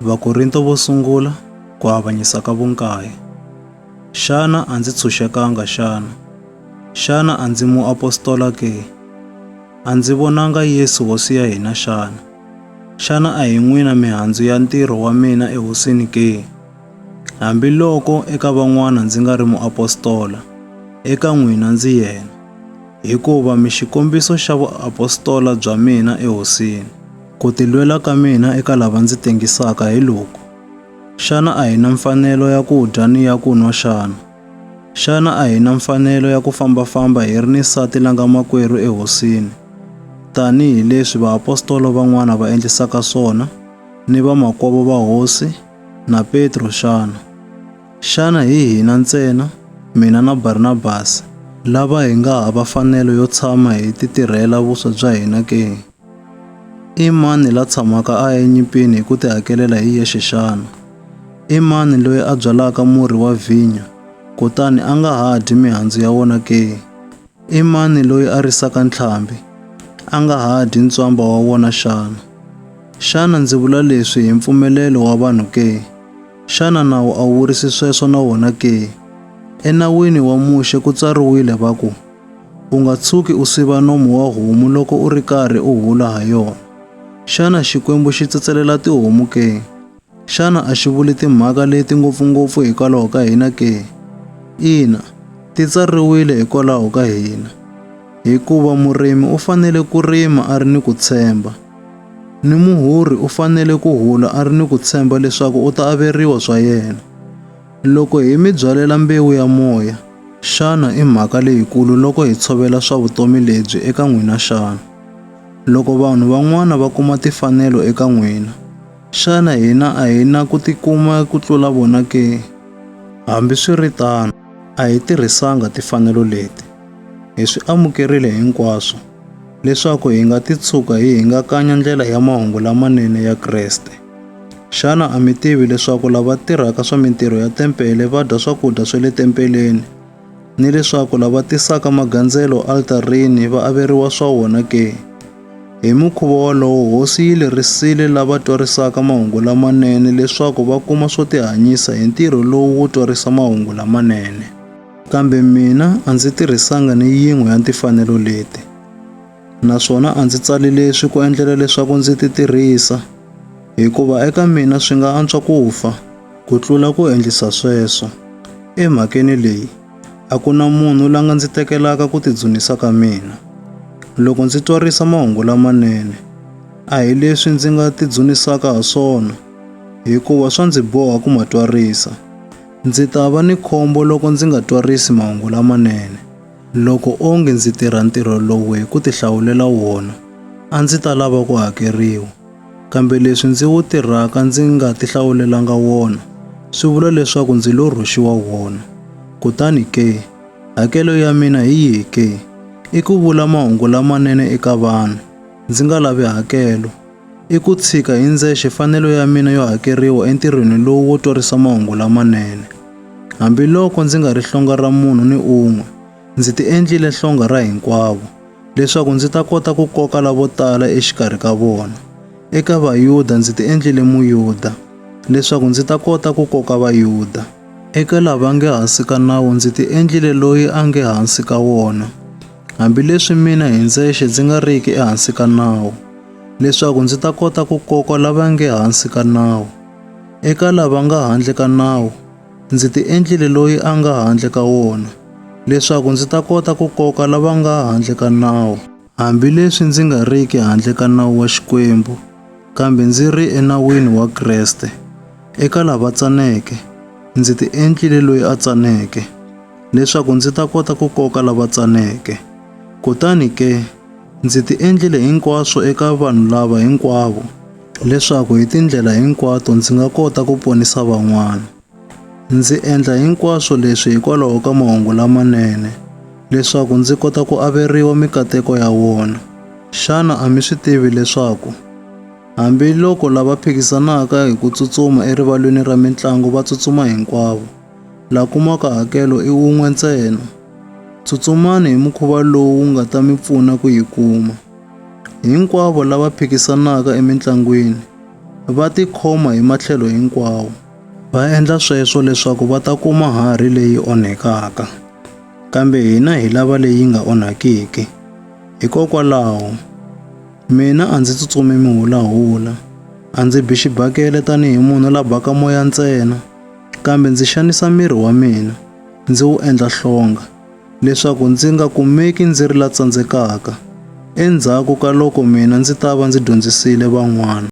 Vakorinto vo sungula ku avanyisa ka vunkaye. Xana a ndzi tshunxekanga xana? Xana a ndzi muapostola ke? A ndzi vonanga Yesu hosi ya hina xana? Xana a hi n'wina mihandzu ya ntirho wa mina ehosini ke? Hambiloko eka van'wana ndzi nga ri muapostola, eka n'wina ndzi yena, hikuva mi xikombiso xa vuapostola bya mina ehosini. Ku tilwela ka mina eka lava ndzi tengisaka hi loku, Xana a hi na mfanelo ya ku dya ni ya ku nwa xana? Xana a hi na mfanelo ya ku famba-famba hi ri ni nsati la nga makwerhu eHosini, tanihi leswi vaapostola van'wana va endlisaka swona, ni vamakwavo va Hosi, na Petro xana? Xana hi hina ntsena, mina na Barnabasi, lava hi nga hava mfanelo yo tshama hi titirhela vuswa bya hina ke? I mani la tshamaka a enyimpini hi ku tihakelela hi yexe xana? I mani loyi a byalaka murhi wa vhinyo kutani a nga ha dyi mihandzu ya wona ke? I mani loyi a risaka ntlhambi a nga ha dyi ntswamba wa wona xana? Xana ndzi vula leswi hi mpfumelelo wa vanhu ke? Xana nawu a wu vurisi sweswo na wona ke? ENawini wa Muxe ku tsariwile va ku, U nga tshuki u siva nomu wa homu loko u ri karhi u hula ha yona. Xana Xikwembu xi tsetselela tihomu ke? Xana a xi vuli timhaka leti ngopfungopfu hikwalaho ka hina ke? Ina, ti tsariwile hikwalaho ka hina. Hikuva murimi u fanele ku rima a ri ni ku tshemba, ni muhurhi u fanele ku hula a ri ni ku tshemba leswaku u ta averiwa swa yena. Loko hi mi byalela mbewu ya moya, xana i mhaka leyikulu loko hi tshovela swa vutomi lebyi eka n'wina xana? Loko vanhu van'wana va kuma tifanelo eka n'wina, xana hina a hi na ku tikuma ku tlula vona ke? Hambiswiritano, a hi tirhisanga tifanelo leti. Hi swi amukerile hinkwaswo, leswaku hi nga titshuka hi hingakanya ndlela ya mahungu lamanene ya Kreste. Xana a mi tivi leswaku lava tirhaka swa mintirho ya tempele va dya swakudya swa le tempeleni, ni leswaku lava tisaka magandzelo altarini va averiwa swa wona ke? Hi mukhuva wolowo, Hosi yi lerisile lava twarisaka mahungu lamanene leswaku va kuma swo tihanyisa hi ntirho lowu wo twarisa mahungu lamanene. Kambe mina a ndzi tirhisanga ni yin'we ya timfanelo leti. naswona a ndzi tsali leswi ku endlela leswaku ndzi ti tirhisa, hikuva eka mina swi nga antswa ku fa ku tlula ku endlisa sweswo. Emhakeni leyi, a ku na munhu la nga ndzi tekelaka ku tidzunisa ka mina. Loko ndzi twarisa mahungu lamanene, a hi leswi ndzi nga tidzunisaka ha swona, hikuva swa ndzi boha ku ma twarisa. Ndzi ta va ni khombo loko ndzi nga twarisi mahungu lamanene. Loko onge ndzi tirha ntirho lowu hi ku tihlawulela wona, a ndzi ta lava ku hakeriwa. Kambe leswi ndzi wu tirhaka ndzi nga tihlawulelanga wona swi vula leswaku ndzi lo rhwexiwa wona. Kutani ke, hakelo ya mina hi yihi ke? I ku vula mahungu lamanene eka vanhu, ndzi nga lavi hakelo. I ku tshika hi ndzexe fanelo ya mina yo hakeriwa entirhweni lowu wo twarisa mahungu lamanene. Hambiloko ndzi nga ri hlonga ra munhu ni un'we, ndzi ti endlile hlonga ra hinkwavo, leswaku ndzi ta kota ku koka lavo tala exikarhi ka vona. Eka Vayuda ndzi ti endlile Muyuda, leswaku ndzi ta kota ku koka Vayuda. Eka lava nge hansi ka nawu ndzi ti endlile loyi a nge hansi ka wona, hambileswi mina hi ndzexe ndzi nga riki ehansi ka nawu, leswaku ndzi ta kota ku koka lava nge hansi ka nawu. Eka lava nga handle ka nawu, ndzi ti endlile loyi a nga handle ka wona, leswaku ndzi ta kota ku koka lava nga handle ka nawu. Hambileswi ndzi nga riki handle ka nawu wa Xikwembu, kambe ndzi ri enawini wa Kreste, eka lava tsaneke, ndzi ti endlile loyi a tsaneke, leswaku ndzi ta kota ku koka lava tsaneke. Kutani ke, ndzi ti endlile hinkwaswo eka vanhu lava hinkwavo, leswaku hi tindlela hinkwato ndzi nga kota ku ponisa van'wana. Ndzi endla hinkwaswo leswi hikwalaho ka mahungu lamanene, leswaku ndzi kota ku averiwa mikateko ya wona. Xana a mi swi tivi leswaku hambiloko lava phikisanaka hi ku tsutsuma erivalweni ra mintlango va tsutsuma hinkwavo, la kumaka hakelo i wun'we ntsena. Tsutsumani hi mukhuva lowu wu nga ta mi pfuna ku yi kuma. Hinkwavo lava phikisanaka emintlangwini va tikhoma hi matlhelo hinkwawo. Va endla sweswo leswaku va ta kuma harhi leyi onhekaka, kambe hina hi lava leyi nga onhakiki. Hikokwalaho, mina a ndzi tsutsumi mihulahula, a ndzi bi xibakele tanihi munhu la baka moya ntsena. Kambe ndzi xanisa miri wa mina, ndzi wu endla hlonga, leswaku ndzi nga kumeki ndzi ri la tsandzekaka, endzhaku ka loko mina ndzi ta va ndzi dyondzisile van'wana.